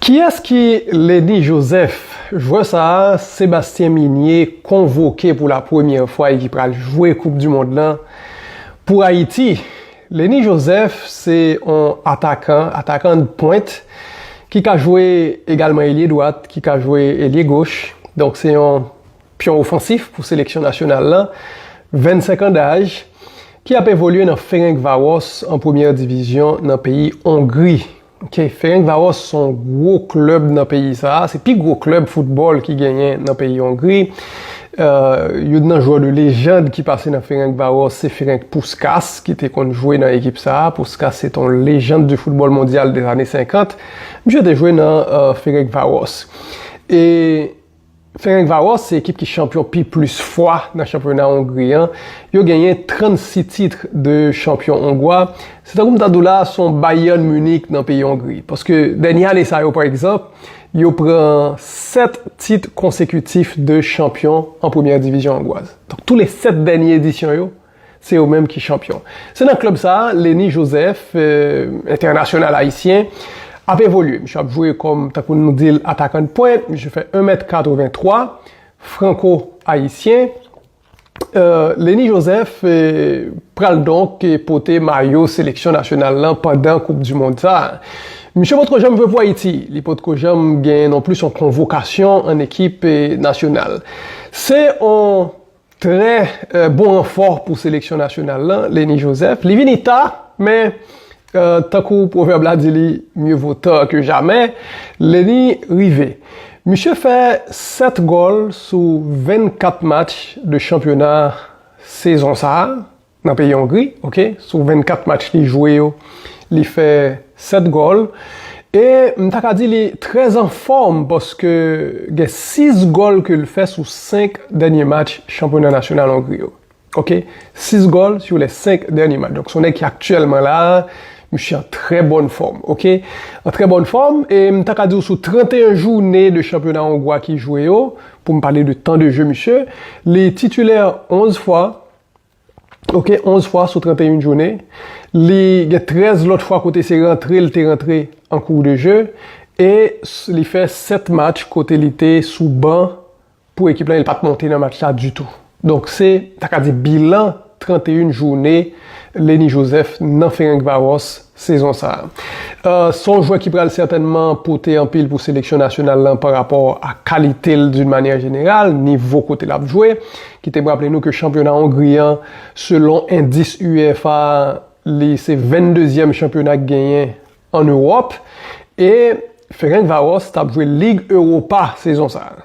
Kiyès ki Lenny Joseph? Jwè sa a Sébastien Migné konvoke pou la premyè fwa e ki pral jwe koup du mond lan pou Ayiti. Lenny Joseph se yon atakan, atakan de pointe, ki ka jwe egalman elye dwat, ki ka jwe elye goch. Donk se yon. pyon ofansif pou seleksyon nasyonal la, 25 an daj, ki ap evolye nan Ferencvaros an premyè divizyon nan peyi Ongri. Ferencvaros se yon gwo klèb nan peyi sa a, se pi gwo klèb foutbòl ki genyen nan peyi Ongri. Youn nan jwè de lejand ki pase nan Ferencvaros se Ferenc Puskas ki te konn jwe nan ekip sa a. Puskas se te yon lejand di foutbòl mondyal de zane 50. Misye te jwe nan Ferencvaros. Ferencváros se ekip ki chanpyon pi plis fwa nan chanpyona Ongri an. Yo genyen 36 titre de chanpyon ongwa. Se tankou m ta di w la a se yon Bayern Munich nan peyi Ongri. Paske dènye ane sa yo pa egzanp, yo pran 7 tit konsekitif de chanpyon an premyè divizyon ongwaz. Donk tou le 7 dènye edisyon yo, Se yo menm ki chanpyon. Se nan klèb sa a Lennie Joseph, entènasyonal ayisyen, ap evolye. Misye ap jwe kòm, tankou nou di l, atakandpwent. Misye fè 1 mèt 83, franko ayisyen. Lennie Joseph pral donk pote mayo seleksyon nasyonal lan pandan koup di mond sa a. Misye potko janm jwe pou Ayiti. Li potko janm genyen nonplis yon konvokasyon ann ekip nasyonal. Se yon Trè bon ranfò pou seleksyon nasyonal la, Lenny Joseph. Li vini ta, men tankou pwovèb la di li Mieux vaut tard que jamais, Lenny rive. Misye fè 7 gòl sou 24 match de chanpyona sezon sa a. Nan peyi Ongri ok sou 24 match li jwe yo li fè 7 gòl e m ta ka di li trè anfòm paske gen 6 gòl ke l fè sou 5 dènye match chanpyona nasyonal Ongri yo ok 6 gòl sou lè 5 dènye match donk s on nèg ki aktyèlman la misye an trè bòn fòm ok an trè bòn fòm e m ta ka di w sou 31 joune de chanpyona ongwa ki jwe yo pou m pale de tan de je misye li titilè 11 fwa ok 11 fwa sou 31 jounen li gen 13 lòt fwa kote se rantre li te rantre an kou de je e li fè 7 match kote li te sou ban pou ekip la el pat monte nan match la ditou donk se ta ka di bilan 31 jounen Lenny Joseph nan Ferencvaros. sezon sa a. Se yon jwè ki pral sètènman pote anpil pou seleksyon nasyonal lan pa rapò a kalite l d'un manyè jeneral, nivo kote l ap jwe. Kite m raple nou ke chanpyona Ongri an, selon endis UEFA a, li se 22 zièm chanpyona ki genyen an Ewòp. E Ferencváros t ap jwe Lig Europa sezon sa a.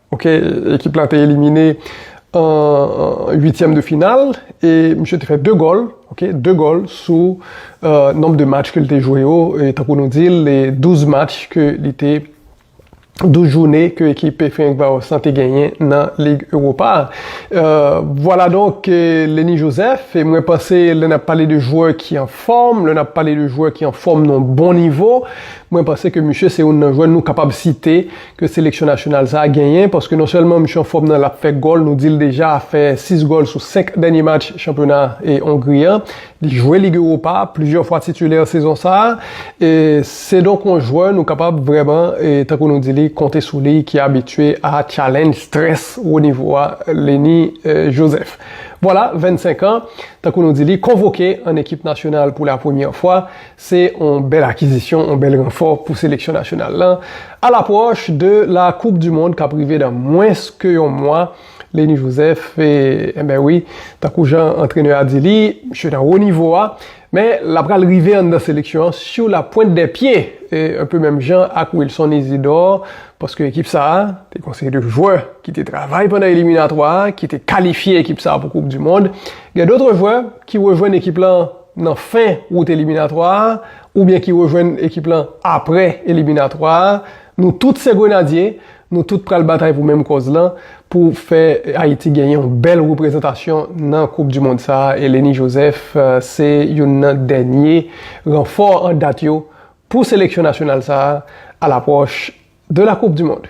Ok, ekip la te elimine an 8 tièm de final e misye te fè 2 gòl, ok, 2 gòl sou nonb de match ke li te jwe yo, e tankou nou di l, 12 match ke li te, 12 joune ke ekip pe Ferencvaros lan te genyen nan Lig Europa. Vwala donk Lenny Joseph, e mwen panse lè n ap pale de jwè ki an fòm, lè n ap pale de jwè ki an fòm nan bon nivo, mwen panse ke misye se youn nan jwè nou kapab site, ke seleksyon nasyonal sa a genyen paske non sèlman misye anfòm nan l ap fè gòl nou di l deja fè 6 gòl sou 5 dènye match chanpyona Ongri an li jwe Lig Europa plizyè fwa titilè sezon sa a se donk yon jwè nou kapab vrèman tankou nou di li konte sou li ki abitye a tchalenj strès wo nivo a Leny Joseph vwala 25 an tankou nou di li konvoke an ekip nasyonal pou lapremyè fwa Se on bèl akizisyon, on bèl ranfò pou seleksyon nasyonal lan a lapwòch de la koup du mond kap rive dan mwens ke yon mwa. Leni Joseph, enben wi, tankou jan antrenè a di li, misye nan wo nivo a, men la pral rive anndan seleksyon an sur la pointe des pieds, un peu menm jan ak Wilson Isidore, paske ekip sa a, te gen on seri de jwè ki te travay pandan eliminatwa a, ki te kalifye ekip sa a pou koup du mond, gen d'autres jwè ki rejwenn ekip lan. nan fen wout eliminatwa a oubyen ki rejwenn ekip lan aprè eliminatwa a, nou tout se Grenadye, nou tout pral batay pou menm kòz lan, pou fè Ayiti gen yon bèl reprezantasyon nan koup di mond sa a, Eleni Joseph se youn nan dènye ranfò an dat yo pou seleksyon nasyonal sa a, a lapwòch de la koup di mond.